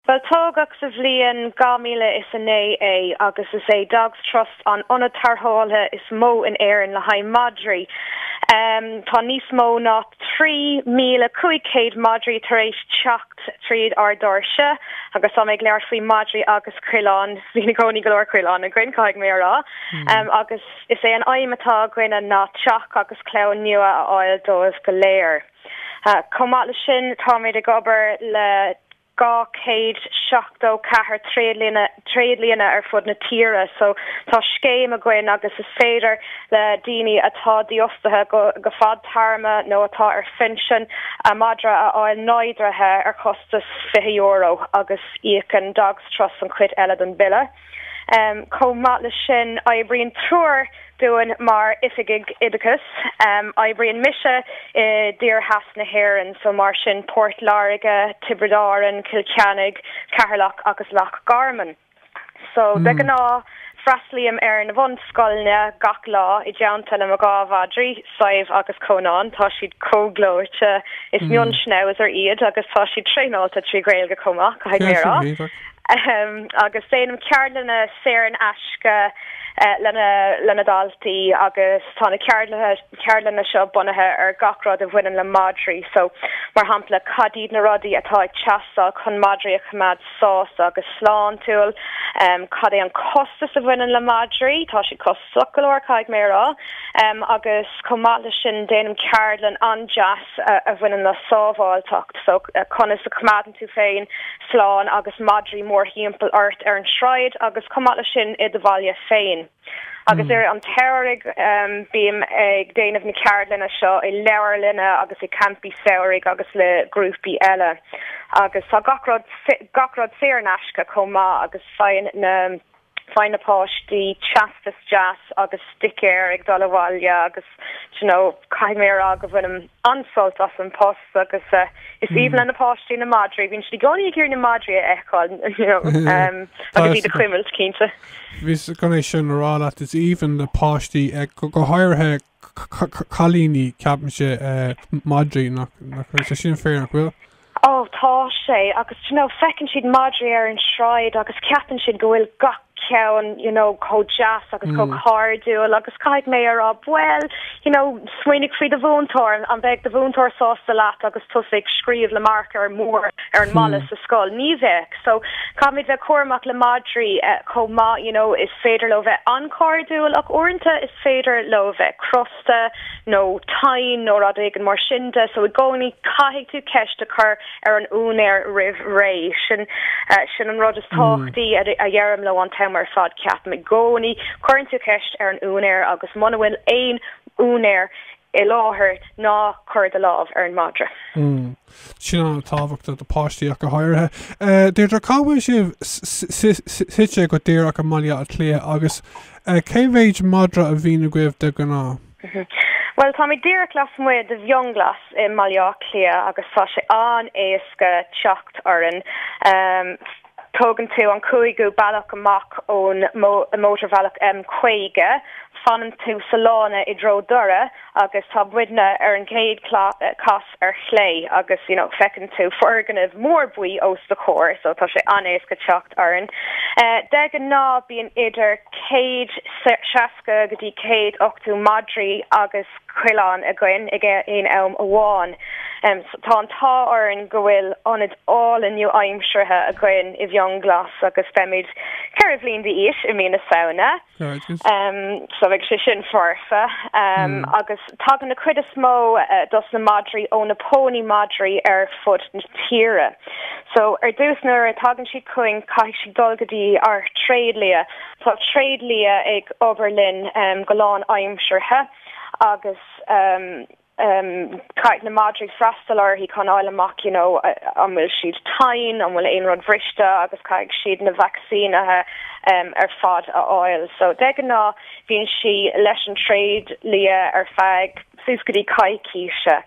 Bhuel, tógadh sa bhliain 2009 é agus is é Dogs Trust an ionad tarrthála is mó in Éirinn le haghaidh madraí. Tá níos mó ná 3,500 madraí tar éis teacht tríd ár dóirse agus tá mé ag labhairt faoi madraí agus coileáin, bíonn i gcónaí go leor coileán againn, caithfidh mé a rá, agus is é an aidhm atá againne ná teach agus clann nua a fháil dóibh go léir. Chomh maith leis sin táimid ag obair le 274 tréidlianna ar fud na tíre so tá scéim againn agus is féidir le daoine atá dífhostaithe go fadtéarmach nó atá ar phinsean a madra a fháil neodraithe ar chostas €20 agus íocann Dogs Trust an chuid eile den bhille. Chomh maith leis sin, oibríonn triúr dínn mar oifigigh oideachais. Oibríonn mise in oirdheisceart na hÉireann, so mar sin Port Láirge, Tiobraid Árann, Cill Chainnigh, Ceatharlach agus Loch Garman. So de ghnáth, freastlaím ar na bhunscoileanna gach lá i dteannta le mo dhá mhadraí, Sadhbh agus Cónán, tá siad chomh gleoite. Is mion-schnauzer iad agus tá siad traenáilte trí Ghaeilge chomh maith, caithfidh mé a rá. Em, agus déanaim ceardlanna saor in aisce le na daltaí agus tá na ceardlanna seo bunaithe ar gach rud a bhaineann le madraí, so, mar shampla, cad iad na rudaí atá ag teastáil chun madraí a choimeád sásta agus sláintiúil, cad é an costas a bhaineann le madraí, tá siad costach, Go leor, caithfidh mé a rá, agus chomh maith leis sin déanaim ceardlann an-deas a bhaineann le sábháilteacht, so conas a choimeádann tú féin slán agus madraí mórthimpeall ort ar an tsráid agus chomh maith leis sin i do bhaile féin. Agus i rith an tsamhraidh bím ag déanamh na ceardlanna seo i leabharlanna agus i gcampaí samhraidh agus le grúpaí eile. Agus tá gach rud, gach rud saor in aisce chomh maith agus faigheann na. Faigh na páistí teastas deas agus sticéir ag dul abhaile agus d'you know caithfidh mé a rá go bhainim an-sult as an post agus is aoibhinn le na páistí na madraí, bíonn siad i gcónaí ag iarraidh na madraí a fheiceáil d'you know agus iad a chuimilt, cinnte. Bhíos chun é sin a rá leat, is aoibhinn le páistí go háirithe cailíní, ceapaimse, madraí, nach sin fíor, nach bhfuil? Ó, tá sé, agus d'you know, feiceann siad madraí ar an sráid agus ceapann siad go bhfuil gach ceann you know chomh deas agus chomh cairdiúil agus caithfidh mé a rá, bhuel, you know, smaoinigh faoi do mhúinteoir, an mbeidh do mhúinteoir sásta leat agus tusa ag scríobh le marker mór? ar an mballa sa scoil, ní bheadh. So, caithfimid bheith cúramach le madraí chomh maith, you know, is féidir leo bheith an-chairdiúil ach uaireanta is féidir leo bheith crosta nó tinn nó rud éigin mar sin, so i gcónaí caithfidh tú ceist a chur ar an úinéir roimh ré, sin, sin an rud is tábhachtaí a dheirim leo an t-am ar fad, ceapaim, i gcónaí cuireann tú ceist ar an úinéir agus muna bhfuil aon úinéir i láthair, ná cuir do lámh ar an madra. sin an-tábhachtach do páistí ach go háirithe. Deirdre, cá bhfuil sibh suite go díreach i mBaile Átha Cliath agus cé mhéad madra a bhíonn agaibh de ghnáth? Bhuel, táimid díreach lasmuigh de Fhionnghlas i mBaile Átha Cliath agus tá sé an-éasca teacht orainn. Tógann tú an cúigiú bealach amach ón mótarbhealach M50, fanann tú sa lána i dtreo Dhoire agus tá muidne ar an gcéad chasadh ar chlé agus you know feiceann tú foirgneamh mór buí os do chomhair so tá sé an-éasca teacht orainn. De ghnáth bíonn idir céad seasca go dtí céad ochtú madraí agus coileán againn ag aon am amháin so tá an t-ádh orainn go bhfuil ionad álainn nua-aimseartha againn i bhFionnghlas agus beimid ceithre bhliain d'aois i mí na Samhna so beidh sé sin foirfe agus tagann an chuid is mó dos na madraí ó na pónaí madraí ar fud na tíre so ar dtús nuair a tagann siad chugainn caithfidh siad dul go dtí ár dtréidlia tá tréidlia ag obair linn go lán aimseartha agus caithfidh na madraí freastal uirthi chun fáil amach you know an bhfuil siad tinn, an bhfuil aon rud bhriste agus caithfidh siad na vacsaínithe ar fad a fháil. So de ghnáth bíonn sí leis an tréidlia ar feadh suas go dtí coicíse.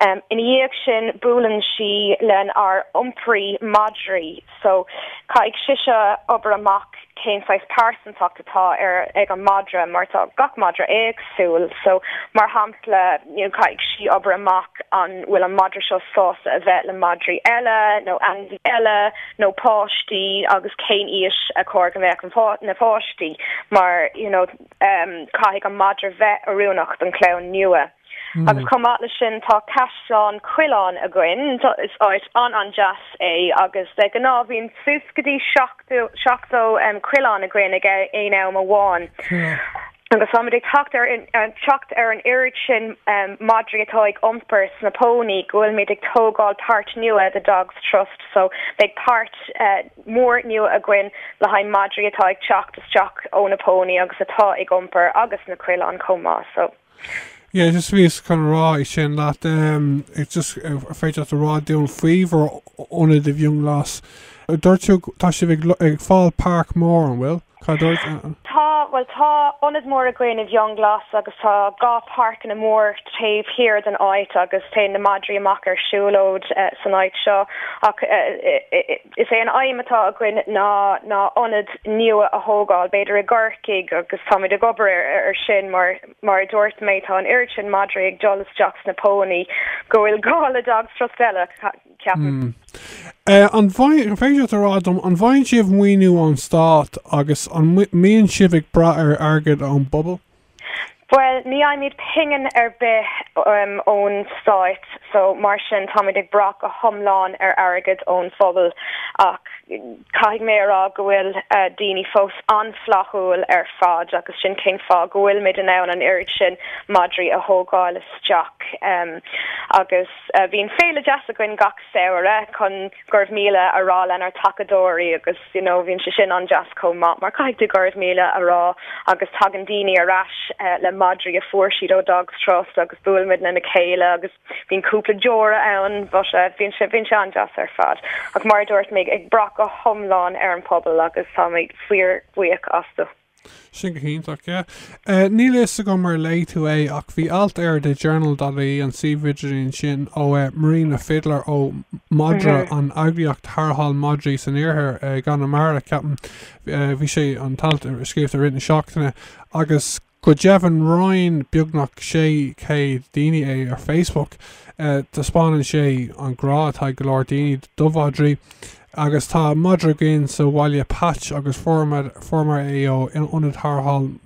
Ina dhiaidh sin buaileann sí lenár iompraí madraí. So, caithfidh sise obair amach cén saghas pearsantacht atá ar, ag an madra, mar tá gach madra éagsúil. So, mar shampla, you know, caithfidh sí obair amach an bhfuil an madra seo sásta a bheith le madraí eile nó ainmhí eile nó páistí agus cén aois ar chóir go mbeadh na páistí mar, you know, caithfidh an madra bheith oiriúnach don chlann nua. Agus chomh maith leis sin tá Caisleán Coileáin againn. Is áit an-an-deas é agus de ghnáth bhíonn suas go dtí seachtó, seachtó coileán againn ag aon am amháin. Agus táimid ag teacht ar, teacht ar an oiread sin madraí atá ag iompar sna pónaí go bhfuilimid ag tógáil páirt nua do Dogs Trust so beidh páirt mhór nua againn le haghaidh madraí atá ag teacht isteach ó na pónaí agus atá ag iompar agus na coileáin chomh maith so. Yeah just bhíos chun a rá é sin leat em it's just an féidir leat a rá dúinn faoi bhur ionad i bhFionnghlas. Dúirt tú tá sibh ag ag fáil páirc mhór an bhfuil? Cad a dúirt? Tá bhuel tá ionad mór againn i bhFionnghlas agus tá dhá páirceanna mór taobh thiar den áit agus téann na madraí amach ar siúlóid san áit seo ach eh Is é an aidhm atá againn ná ná ionad nua a thógáil, b'fhéidir i gCorcaigh agus táimid ag obair ar sin mar mar a dúirt mé tá an oiread sin madraí ag dul isteach sna pónaí go bhfuil gá le Dogs Trust eile, ceapaim. Eh, an bhfaigheann, an féidir leat a rá dom, an bhfaigheann sibh maoiniú ón Stát agus an mbíonn sibh ag brath ar airgead ón bpobal? Bhuel, ní fhaighimid pingin ar bith ón stáit so mar sin táimid ag brath go hiomlán ar airgead ón phobal ach caithfidh mé a rá go bhfuil daoine fós an-fhlaithiúil ar fad agus sin cén fáth go bhfuilimid in ann an oiread sin madraí a thógáil isteach agus bíonn féile deas againn gach samhradh chun Go raibh míle a rá lenár tacadóirí agus you know bhíonn sé sin an-deas chomh maith mar caithfidh tú go raibh míle a rá agus tagann daoine ar ais le madraí a fuair siad ó Dogs Trust agus buailimid lena chéile agus bíonn cúpla deora ann but bhíonn sé bhíonn sé an-deas ar fad ach mar a dúirt mé ag brath go hiomlán ar an bpobal agus táimid fíorbhuíoch astu. Sin go hiontach, yeah. Níl fhios agam ar léigh tú é ach bhí alt ar The Journal dot ie, an suíomh idirlín sin, ó Marina Fiddler ó Madra, an eagraíocht tharrtháil madraí san iarthar, i gConamara, ceapaim. Bhí sé, an t-alt, scríofa i rith na seachtaine agus go deimhin roinn beagnach 600 daoine é ar Facebook. Taispeánann sé an grá atá ag go leor daoine do mhadraí. Agus tá madra againn sa bhaile, Patch, agus fuaireamar é ó ionad tharrtháil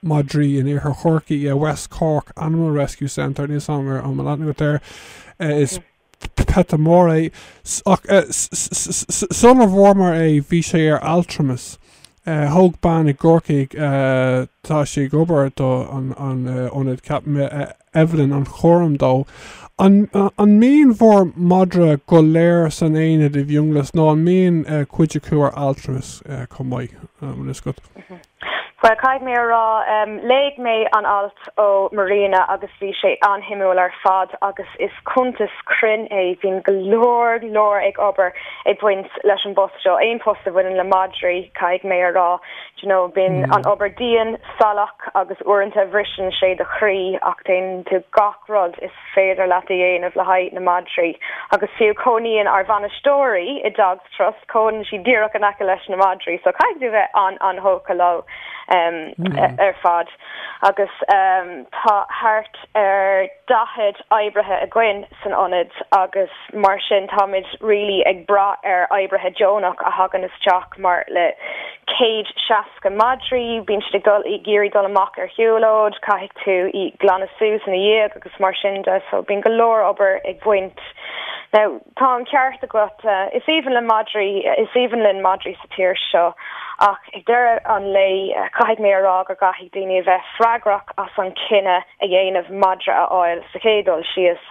madraí in Iarthar Chorcaí, West Cork Animal Rescue Centre, níl 's agam an bhfuil aithne agat air, is peata mór é, ach sula bhfuaireamar é bhí sé ar altramas, Thóg bean i gCorcaigh, tá sí ag obair do an ionad ceap Evelyn an-chúram dó. An mbíonn bhur madra go léir san aonad i bhFionnghlas nó an mbíonn cuid acu ar altramas chomh maith? Bhfuil fhios agat? Bhuel, caithfidh mé a rá, léigh mé an alt ó Marina agus bhí sé an-shuimiúil ar fad agus is cuntas cruinn é, bíonn go leor, go leor ag obair. ag baint leis an bpost seo, aon post a bhaineann le madraí, caithfidh mé a rá. D'you know, bíonn an obair dian, salach agus uaireanta bhriseann sé do chroí ach déanann tú gach rud is féidir leat a dhéanamh le haghaidh na madraí. Agus fiú, cónaíonn ár mbainisteoirí i Dogs Trust, cónaíonn siad díreach in aice leis na madraí so caithfidh tú bheith an-an-thógtha leo ar fad. Agus tá thart ar 40 oibrithe againn san ionad agus. Mar sin táimid really ag brath ar oibrithe deonach a thagann isteach mar le céad seasca madraí bíonn siad ag iarraidh dul amach ar shiúlóid, caithfidh tú glanadh suas ina ndiaidh agus mar sin de so bíonn go leor obair ag baint. Now tá an ceart agat, is aoibhinn le madraí, is aoibhinn linn madraí sa tír seo ach ag deireadh an lae caithfidh mé a rá go gcaithfidh daoine a bheith freagrach as an cinneadh a dhéanamh madra a fháil sa chéad dul síos.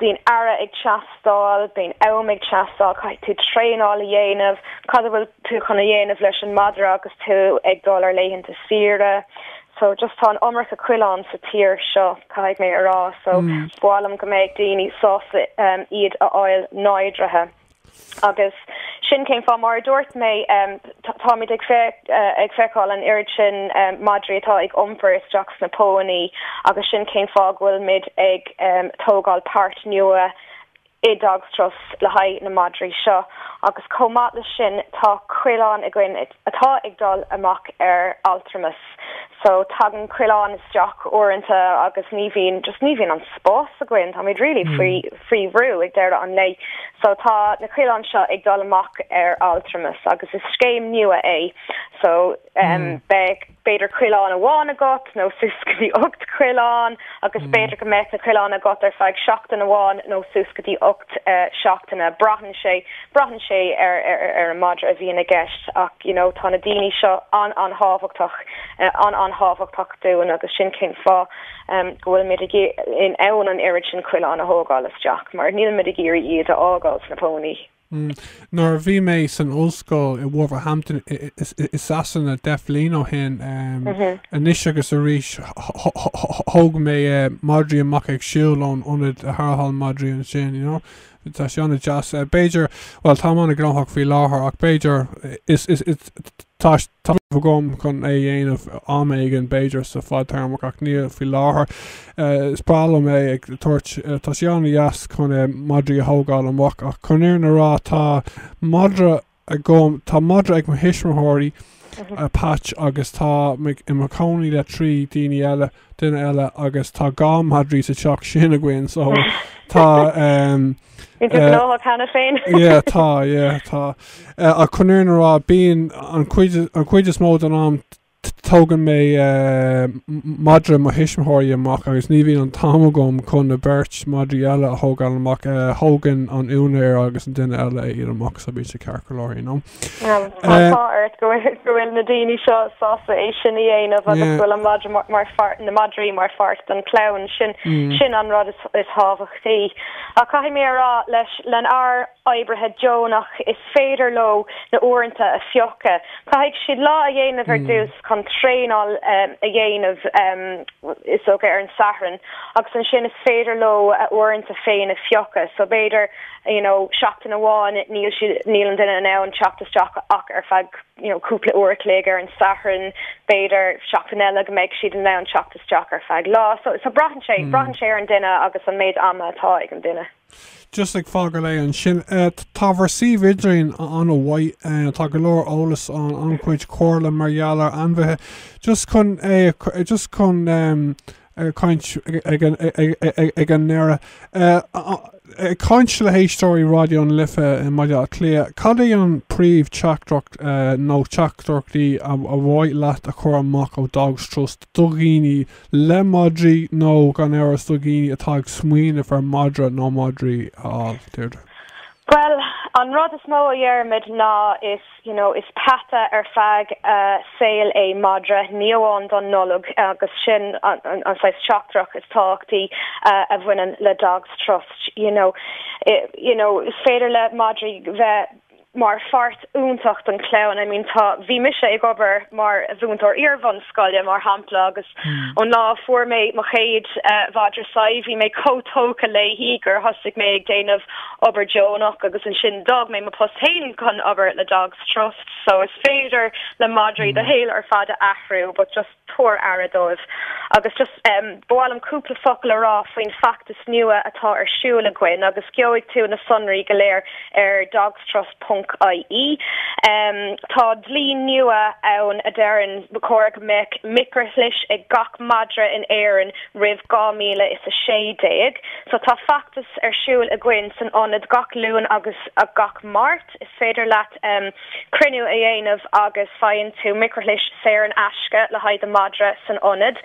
Bíonn aire ag teastáil, bíonn am ag teastáil, caithfidh tú traenáil a dhéanamh, cad a bhfuil tú chun a dhéanamh leis an madra agus tú ag dul ar laethanta saoire? So, just tá an iomarca coileán sa tír seo, caithfidh mé a rá, so ba mhaith liom go mbeadh daoine sásta iad a fháil neodraithe. Agus sin cén fáth, mar a dúirt mé, táimid ag feiceáil an oiread sin madraí atá ag iompar isteach sna pónaí agus sin cén fáth go bhfuil mid ag tógáil páirt nua i Dogs Trust le haghaidh na madraí seo. Agus chomh maith leis sin, tá coileáin againn. atá ag dul amach ar altramas so tagann coileáin isteach uaireanta agus ní bhíonn just ní bhíonn an spás againn, táimid really faoi faoi bhrú ag deireadh an lae so tá na coileáin seo ag dul amach ar altramas agus is scéim nua é so beidh. b'fhéidir coileán amháin agat nó suas go dtí ocht gcoileán agus b'fhéidir go mbeadh na coileáin agat ar feadh seachtain amháin nó suas go dtí ocht seachtaine, braitheann sé, braitheann sé ar an madra a bhíonn i gceist ach you know tá na daoine seo an-an-thábhachtach, an-an-thábhachtach dúinn agus sin cén fáth go bhfuil muid in ann an oiread sin coileán a thógáil isteach mar níl muid ag iarraidh iad a fhágáil sna pónaí. Nuair a bhí mé san ollscoil i Wolverhampton i Sasana deich mbliain ó shin, anois agus arís thóg mé madraí amach ag siúl ón ionad tarrthála madraí ansin, you know. Tá sé an-deas. B'fhéidir, bhuel, táim an-ghnóthach faoi láthair ach b'fhéidir tá. Tá rogha agam chun é a dhéanamh am éigin, b'fhéidir sa fadtéarmach, ach ní faoi láthair. Is breá liom é ag tabhairt, tá sé an-deas chun madraí a thógáil amach, ach chun an fhírinne a rá, tá madra agam, tá madra ag mo thuismitheoirí, Patch, agus tá mé i mo chónaí le trí daoine eile. duine eile agus tá dhá madraí sa teach sin againn so tá um, Bíonn tú gnóthach leat féin. yeah, tá, yeah, tá. Uh, chun an fhírinne a rá, bíonn an cuid, an cuid is mó don am tógann mé uh, madra mo thuismitheoirí amach agus ní bhíonn an t-am agam chun na beirt madraí eile a thógáil amach uh, thógann an úinéir agus an duine eile iad amach so bíonn sé ceart go leor, you know. Tá an t-ádh ort go bhfuil na daoine seo sásta é sin a dhéanamh agus go bhfuil an madra mar pháirt na madraí mar pháirt don clann sin sin an rud is thábhachtaí. Ach caithfidh mé a rá leis len ár oibrithe deonach is féidir leo na uaireanta a phiocadh. Caithfidh siad lá a dhéanamh ar dtús chun traenáil a dhéanamh is dócha ar an Satharn agus ansin is féidir leo a uaireanta féin a phiocadh so b'fhéidir you know seachtain amháin níl siad, níl an duine in ann teacht isteach ach ar feadh you know cúpla uair a chloig ar an Satharn, b'fhéidir seachtain eile go mbeidh siad in ann teacht isteach ar feadh lá so, so braitheann sé, braitheann sé ar an duine agus an méid ama atá ag an duine. Just ag fágáil é ansin. Tá bhur suíomh idirlín an-mhaith, tá go leor eolas ann, an-chuid comhairle mar gheall ar ainmhithe, just chun é a, just chun em, ag caint ag an ndeireadh. Ag caint le héisteoirí Raidió na Life i mBaile Átha Cliath, cad é an príomh teachtaireacht nó teachtaireachtaí ar mhaith leat a chur amach ó Dogs Trust do dhaoine le madraí nó gan amhras do dhaoine atá ag smaoineamh ar madra nó madraí a fháil, Deirdre? Bhuel, an rud is mó a dheirimid ná is. you know is peata ar feadh saoil é madra, ní amháin don Nollaig agus sin an saghas teachtaireacht is tábhachtaí a bhaineann le Dogs Trust you know, you know is féidir le madraí bheith mar pháirt iontach don chlann I mean tá, bhí mise ag obair mar mhúinteoir iarbhunscoile mar shampla agus ón lá a fuair mé mo chéad mhadra Sadhbh bhí mé chomh tógtha léi gur thosaigh mé ag déanamh obair deonach agus ansin d'fhág mé mo post féin chun obair le Dogs Trust so is féidir le madraí do shaol ar fad a athrú but just tabhair aire dóibh agus just em ba mhaith liom cúpla focal a rá faoin feachtas nua atá ar siúl againn agus gheobhaidh tú na sonraí go léir ar dogs trust ponc ie em tá dlí nua ann a deireann ba chóir go mbeadh micrishlis ag gach madra in Éirinn roimh 2016 so tá feachtas ar siúl againn san ionad gach Luan agus gach Máirt. Is féidir leat cruinniú a dhéanamh agus faigheann tú micrishlis saor in aisce le haghaidh do mhadra san ionad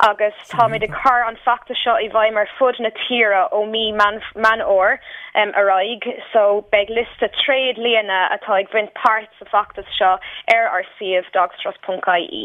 agus táimid ag cur an feachtas seo i bhfeidhm ar fud na tíre ó mí Meán Fómhair ar aghaidh so beidh liosta tréadlianna atá ag baint páirt sa bhfeachtas seo ar ár suíomh dogstrust.ie.